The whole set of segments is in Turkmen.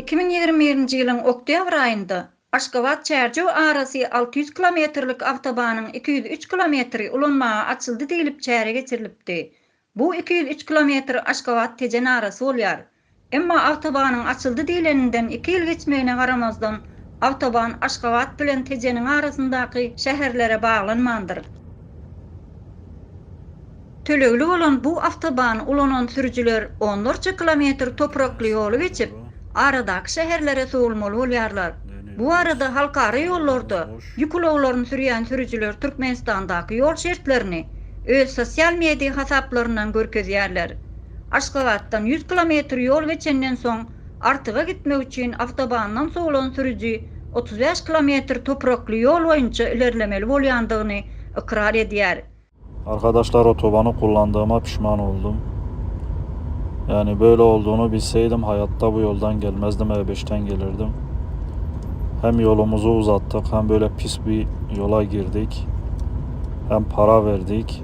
Iki müň ýigrimi birinji ýylyň oktýabr aýynda Aşgabat-Çärjew arasy alty ýüz kilometrlik awtobanyň iki ýüz üç kilometri ulanmaga açyldy diýlip çäre geçirilipdi. Bu iki ýüz üç kilometr Aşgabat-Tejen arasy bolýar. Emma awtobanyň açyldy diýleninden iki ýyl geçmegine garamazdan, awtoban Aşgabat bilen Tejeniň arasyndaky şäherlere baglanmandyr. Tölegli bolan bu awtobany ulanan sürüjiler onlarça kilometr toprakly ýoly geçip, aradaky şäherlere sowulmaly bolýarlar. Bu barada halkara ýollarda ýük ulaglaryny sürýän sürüjiler Türkmenistandaky ýol şertlerini öz sosial media hasaplaryndan görkezýärler. Aşgabatdan ýüz kilometr ýol geçenden soň, Artyga gitmek üçin awtobandan sowlan sürüji otuz bäş kilometr toprakly ýol boýunça ilerlemeli bolýandygyny ykrar edýär. Arkadaşlar otobany kullandygyma pişman oldum. Yani böyle olduğunu bilseydim hayatta bu yoldan gelmezdim e beşten gelirdim. Hem yolumuzu uzattık hem böyle pis bir yola girdik. Hem para verdik.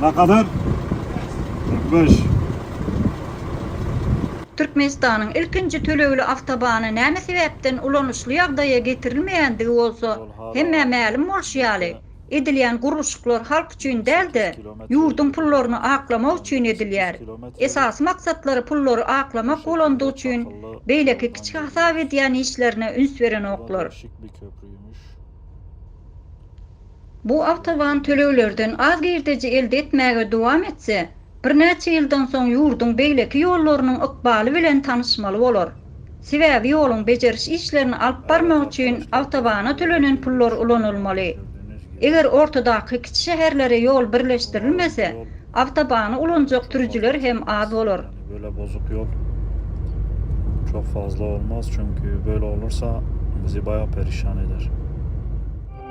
Na kadar? 45. Türkmenistanyň ilkinji tölegli awtobany näme sebäpden ulanyşly ýagdaýa getirilmeýändigi bolsa hemmä mälim bolşy ýaly, edilýän gurluşyklar halk üçin däl-de, ýurduň pullaryny aklamak üçin edilýär. Esasy maksatlary pullary aklamak bolandygy üçin beýleki kiçi hasap edýän işlerine üns berenoklar. Bu awtoban töleglerden az girdeji elde etmäge dowam etse, birnäçe ýyldan soň ýurduň beýleki ýollarynyň ykbaly bilen tanyşmaly bolar. Sebäbi ýoluň bejeriş işlerini alyp barmak üçin awtobana tölenen pullar ulanylmaly. Eger ortadaky kiçi şäherlere ýol birleşdirilmese, awtobany ulanjak sürüjiler hem az bolar. Böyle bozuk yol çok fazla olmaz çünki böyle olursa bizi bayağı perişan eder.